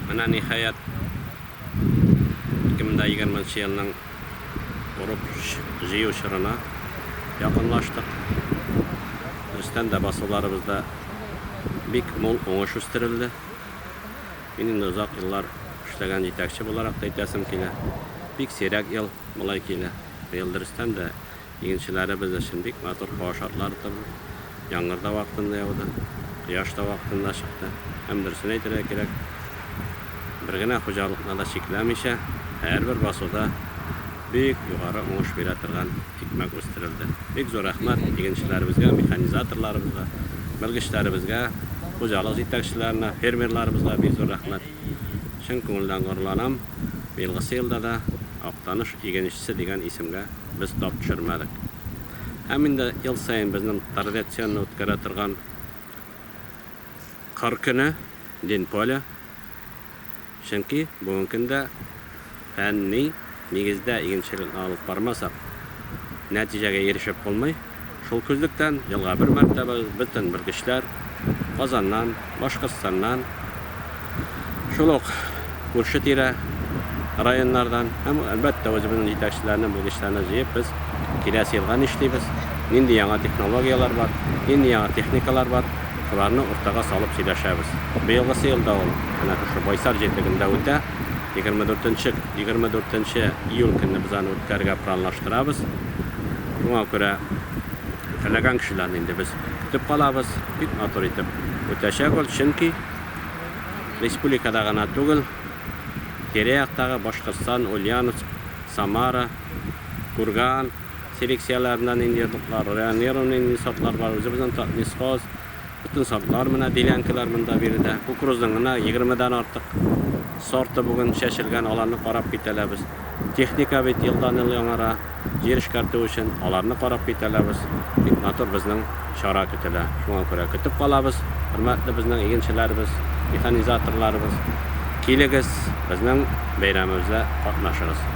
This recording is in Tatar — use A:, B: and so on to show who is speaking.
A: Менә ниһаять, 2020 нчы елның урып-җыю чорына якынлаштык. Дөрестән дә, басуларыбызда бик мул уңыш үстерелде. Мин инде озак еллар эшләгән җитәкче буларак та әйтәсем килә, бик сирәк ел болай килә. Быел дөрестән дә, Игенчеләребез өчен бик матур һава шартлары торды. Яңгыр да вакытында яуды, кояш та вакытында чыкты. Һәм дөресен әйтергә кирәк, бер генә хуҗалыкны да чикләмичә, һәрбер басуда бик югары уңыш бирә торган икмәк үстерелде. Бик зур рәхмәт игенчеләребезгә, механизаторларыбызга, белгечләребезгә, хуҗалык җитәкчеләренә, фермерларыбызга бик зур рәхмәт. Чын күңелдән горурланам, быелгысы елда да Актаныш игенчесе дигән исемгә без тап төшермәдек. Һәм инде ел саен безнең традиционный үткәрә торган Кыр көне, День поля. Чөнки бүген көндә Фәнни нигездә игенчелекне алып бармасак, нәтиҗәгә ирешеп булмый. Шул күзлектән, елга бер мәртәбә бөтен белгечләр Казаннан, Башкортстаннан, шул ук күрше-тирә районнардан һәм, әлбәттә, үзебезнең җитәкчеләрне, белгечләрне җыеп, без киләсе елга нишлибез, нинди яңа технологияләр бар, нинди яңа техникалар бар, шуларны уртага салып сөйләшәбез. Быелгысы ел да ул менә шушы Байсар җирлегендә үтә. Егерме дүртенче, егерме дүртенче июль көнне без аны үткәрергә планлаштырабыз. Шуңа күрә теләгән кешеләрне инде без көтеп калабыз. Бик матур итеп үтәчәк ул, чөнки республикада гына түгел, тирә-яктагы Башкортстан, Ульяновск, Самара, Курган, Сирексияләреннән инде йодрыклар, районированный инде сортлар бар, үзебезнең Татнесхоз, Бөтен сортлар менә делянкалар монда биредә. Кукурузның гына 20 дан артык сорты бүген чәчелгән, аларны карап китәләбез. Техника бит елдан-ел яңара, җир эшкәртү өчен аларны карап китәләбез. Бик матур безнең чара көтелә. Шуңа күрә көтеп калабыз, хөрмәтле безнең игенчеләребез, механизаторларыбыз. Килегез, безнең бәйрәмебездә катнашыгыз.